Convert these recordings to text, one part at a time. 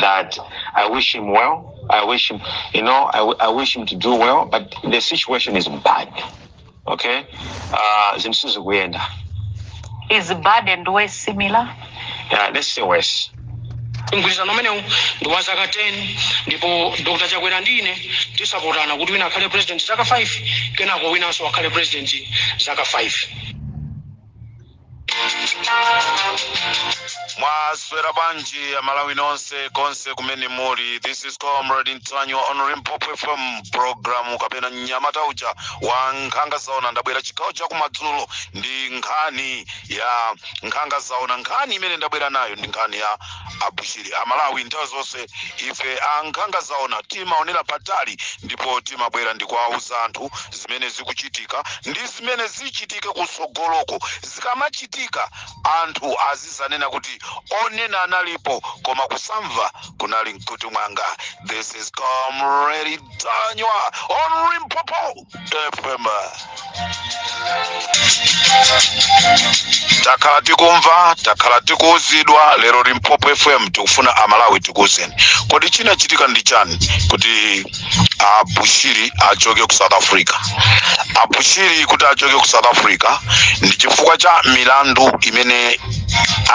that I wish him well. I wish him, you know, I, w- I wish him to do well, but the situation is bad. Okay? Uh, zinthu sizikuyenda. Is bad and worse similar? Yeah, let's say worse. mgwirizano umenewu ndi wa zaka 10 ndipo dr chakwera ndi ine tisapotana kuti wina akhale president zaka 5 kenako winanso akhale president zaka 5 mwaswera bwanji amalawi nonse konse kumene muli this is comrade ntanyiwa on limpopo fm programu kapena mnyamata uja wa nkhanga zaona ndabwera chigawo chakumadzulo ndi nkhani ya nkhanga zaona nkhani imene ndabwera nayo ndi nkhani ya abushiri amalawi nthawi zonse ife ankhanga zaona timaonera patali ndipo timabwera ndikuwauza anthu zimene zikuchitika ndi zimene zichitike kutsogoloko zikamachitika anthu azizanena kuti onena analipo koma kusamva kunali nkhutukumve mwanga this is comrade ntanyiwa on limpopo fm. takhala tikumva takhala tikuuzidwa lero limpopo fm tikufuna amalawi tikuuzeni kodi chinachitika ndi chani kuti abushiri achoke ku south africa abushiri kuti achoke ku south africa ndi chifukwa cha milandu imene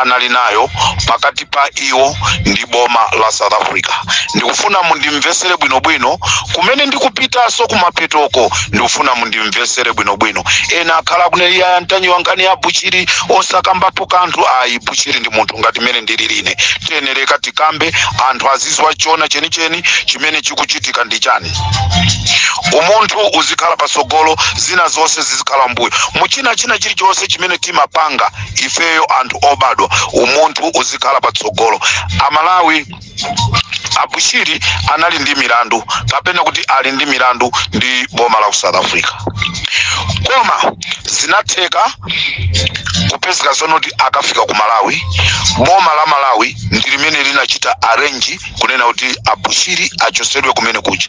anali nayo pakati pa iwo ndi boma la south africa ndikufuna mundimvesere bwinobwino kumene ndikupitaso kumathekoko ndikufuna mundimvesere bwinobwino ena akhala kuneli ya ntanyiwa nkhani ya buchiri osakambapo kanthu ayi buchiri ndi munthu ngati mmene ndilili ine tiyenereka tikambe anthu azidziwa choona chenicheni chimene chikuchitika ndi chani umunthu uzikhala pasogolo zina zonse zizikhala mbuyo muchina china chilichonse chimene timapanga ifeyo anthu obadwa umunthu uzikhala patsogolo amalawi abushiri anali ndi milandu kapena kuti ali ndi milandu ndi boma la ku south africa koma zinatheka kupezeka zonena kuti akafika ku malawi boma la malawi ndi limene linachita arrange kunena kuti abushiri achosedwe kumene kuja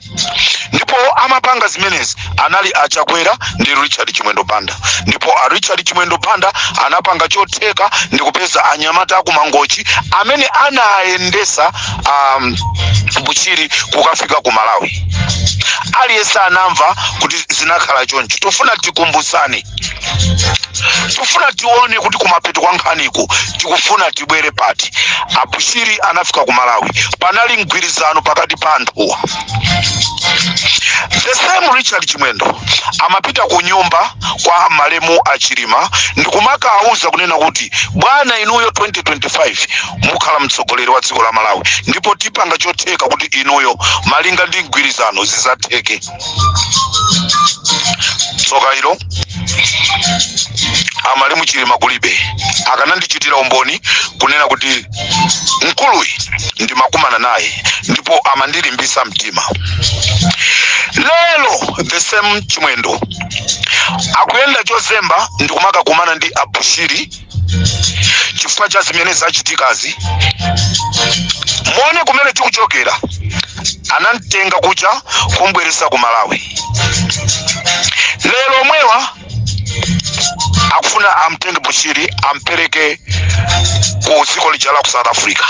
ndipo amapanga zimenezi anali a chakwera ndi richard chimwendo banda ndipo a richard chimwendo banda anapanga chotheka ndi kupeza anyamata akumangochi amene anayendesa a bushiri kukafika ku malawi aliyense anamva kuti zinakhala choncho tofuna tikumbusani tikufuna tione kuti kumapeto kwa nkhaniku tikufuna tibwere pati abushiri anafika ku malawi panali mgwirizano pakati pa anthuwa the same richard chimwendo amapita ku nyumba kwa malemu achilima ndikumakawauza kunena kuti bwana inuyo 2025 mukhala mtsogoleri wa dziko la malawi ndipo tipanga chotheka kuti inuyo malinga ndi mgwirizano zizatheke tsoka ilo amalemu achilima kulibe akanandichitira umboni kunena kuti mkuluyi ndimakumana naye ndipo amandilimbisa mtima lero the same chimwendo akuyenda chozemba ndikumakakumana ndi abushiri chifukwa cha zimene zachitikazi muone kumene tikuchokera anamtenga kuja kumbweresa ku malawi lero omwewa akufuna amtenge bushiri ampereke ku dziko lija la ku south africa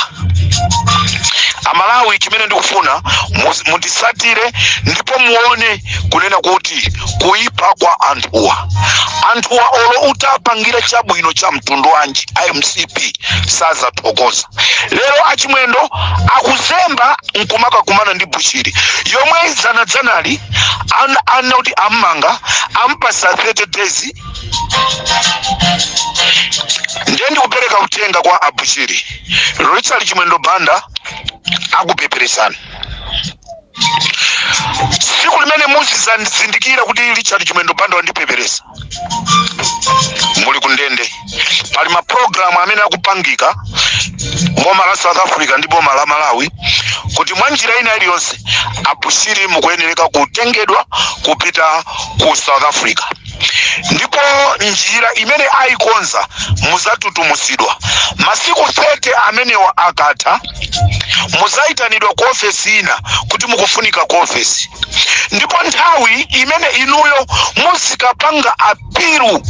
amalawi chimene ndikufuna muzi- mundisatire ndipo muone kunena kuti kuipa kwa anthuwa anthuwa olo utapangira chabwino cha mtundu wanji a mcp sazathokoza lero achimwendo akuzemba nkumakakumana ndi bushiri yomwe dzanadzanali an- anati ammanga ampasa 30 days ndiye ndikupereka uthenga kwa abushiri richard chimwendo banda akupeperesani tsiku limene muzizazindikira kuti richard chimwendo banda wandipeperesa muli kundende pali mapulogalamu amene akupangika boma la south africa ndi boma la malawi kuti mwa njira ina iliyonse abushiri mukuyenereka kutengedwa kupita ku south africa ndipo njira imene ayikonza muzatutumuzidwa masiku 30 amenewa akatha muzayitanidwa ku ofesi ina kuti mukufunika ku ofesi ndipo nthawi imene inuyo muzikapanga apilu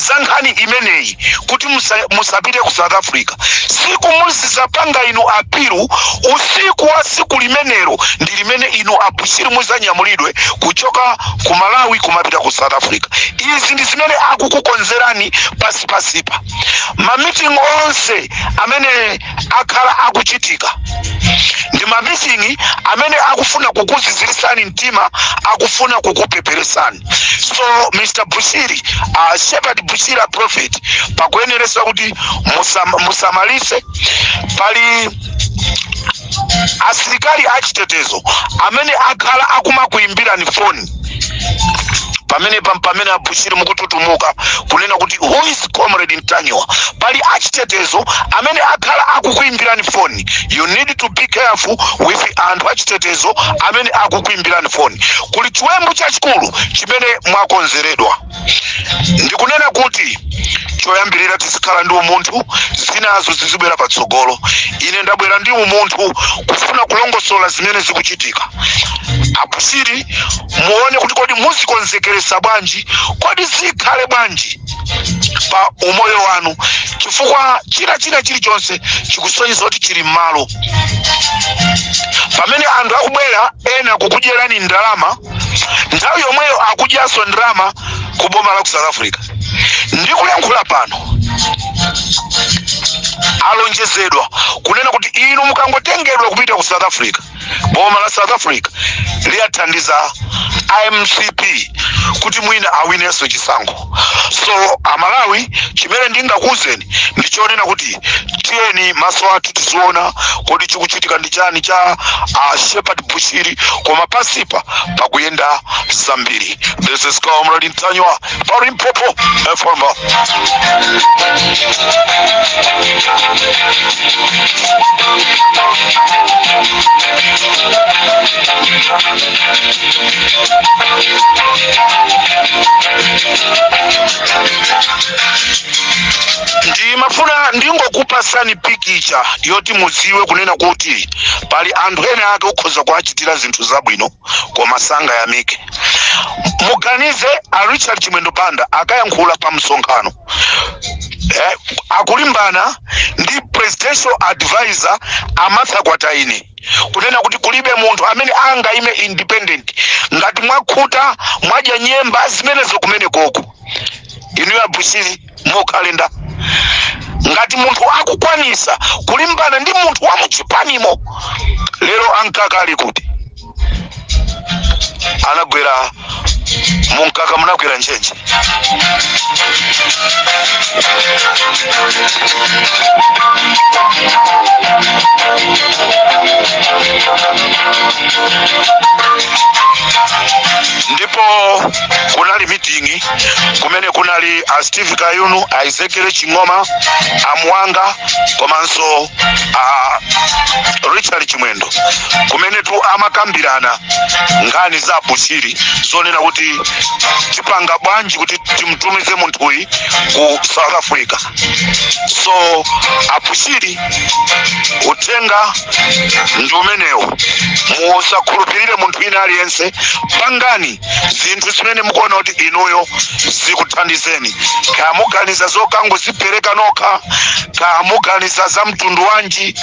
za nkhani imeneyi kuti musa- musapite ku south africa siku muzizapanga inu apilu usiku wa siku limenelo ndi limene inu abushiri muzanyamulidwe kuchoka ku malawi kumapita ku south africa izi ndi zimene akukukonzerani pasipasipa mamiting onse amene akhala akuchitika ndi mamiting amene akufuna kukuzizirisani mtima akufuna kukupeperesani so mr bushiri uh, shepherd bushiri a prophet pakuyeneresa kuti musam, musamalise pali asilikali achitetezo amene akhala akumakuyimbirani foni pamene pamene abushiri mukututumuka kunena kuti who is comrade ntanyiwa pali achitetezo amene akhala akukuyimbirani foni you need to be careful with anthu achitetezo amene akukuyimbirani foni kuli chiwembu chachikulu chimene mwakonzeredwa ndikunena kuti choyambirira tizikhala ndi umunthu zinazo zizibwera patsogolo ine ndabwera ndi umunthu kufuna kulongosola zimene zikuchitika abushiri muone kuti kodi muzikonzekeresa bwanji kodi zikhale bwanji pa umoyo wanu chifukwa china china chilichonse chikusonyeza kuti chili m'malo pamene anthu akubwera ena kukudyerani ndalama nthawi yomweyo akudyanso ndalama ku boma la ku south africa ndikuyankhula pano alonjezedwa kunena kuti inu mukangotengedwa kupita ku south africa boma la south africa liwathandiza a mcp kuti mwina awinenso chisankho so amalawi chimene ndingakuuzeni ndi chonena kuti tiyeni maso athu tiziona kodi chikuchitika ndi chani cha uh, shepherd bushiri koma pasipa pakuyenda zambiri this is comrade ntanyiwa pa limpopo fm ndimafuna ndingokupasani pikicha yoti mudziwe kunena kuti pali anthu ene ake ukhoza kuwachitira zinthu zabwino koma sangayamike muganize a richard chimwendo banda akayankhula pa msonkhano eh, akulimbana ndi presidential advisor a martha kwataine kunena kuti kulibe munthu amene angaime independent ngati mwakhuta mwadya nyemba zimenezo kumene koko inuyo abushiri mukalenda ngati munthu akukwanisa kulimbana ndi munthu wa muchipanimo lero amkaka ali kuti anagwera mumkaka munagwera ntchentche ndipo kunali mitingi kumene kunali a steve kayuni a ezekiel ching'oma a mwanga komanso a richard chimwendo kumene tu amakambirana nkhani za a bushiri zonena kuti tipanga bwanji kuti timtumize munthuyi ku south africa so a bushiri uthenga ndi umenewo musakhulupirire munthu wina aliyense pangani zinthu zimene mukuona kuti inuyo zikuthandizeni kaya muganiza zokangozipereka nokha kaya muganiza za mtundu wanji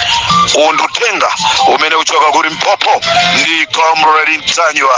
uwu ndi uthenga umene uchoka ku limpopo ndi comrade ntanyiwa